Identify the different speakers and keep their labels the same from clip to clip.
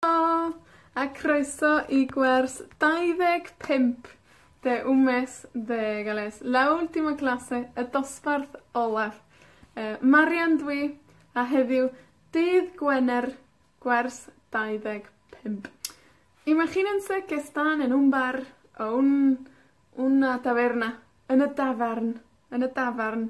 Speaker 1: Helo! A croeso i gwers 25 de un mes ddeg Ellis. La última clase, y dosbarth olaf. Yy, Marian dw i, a heddiw, dydd Gwener, gwers 25. Imagínense que están en un bar o un, una taberna, yn y dafarn, yn y dafarn,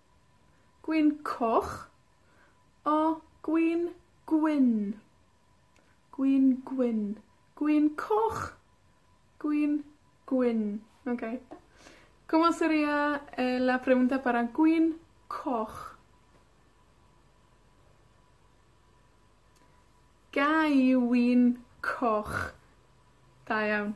Speaker 1: Gwin coch, o, gwin gwyn. Gwin gwyn. Gwin coch, gwin gwyn. Oce. Como seria eh la pregunta para gwin coch? Gai win coch? Da iawn.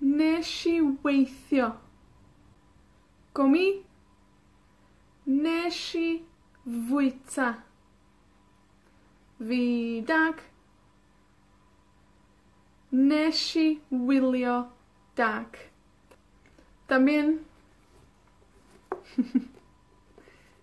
Speaker 1: Nesh i weithio. Go mi. Nesh i fwyta. Fi dag. Nesh i wylio dag. Damien.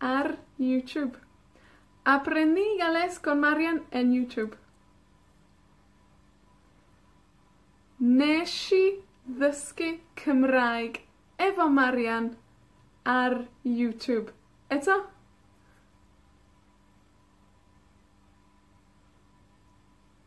Speaker 1: ar YouTube. Aprendígales con Marian en YouTube. Nesh i ddysgu Cymraeg efo Marian ar YouTube. Eto?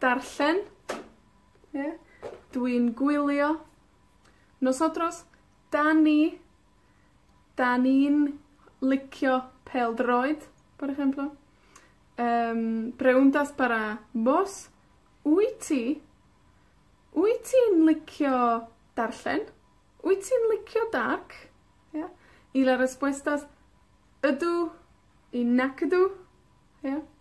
Speaker 1: Darllen, ie? Dwi'n gwylio. Nosotros, 'dan ni. 'Dan ni'n licio pêl-droed, por ejemplo. Yym, preguntas para vos, wyt ti, wyt ti'n licio darllen? Wyt ti'n licio dark? Ie? Y la respuesta es ydw i nac ydw. Ie?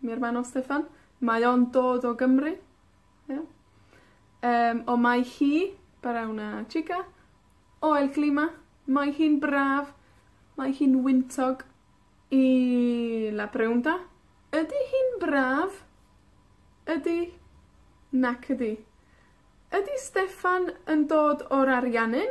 Speaker 1: Mi aru nw Steffan. Mae o'n dod o Gymru. Ia? Yym, on' mae hi, bara una chica, o El Clima, mae hi'n braf, mae hi'n wyntog. Y la pregunta ydi hi'n braf? Ydi. Nac ydi. Ydi Steffan yn dod o'r Ariannin?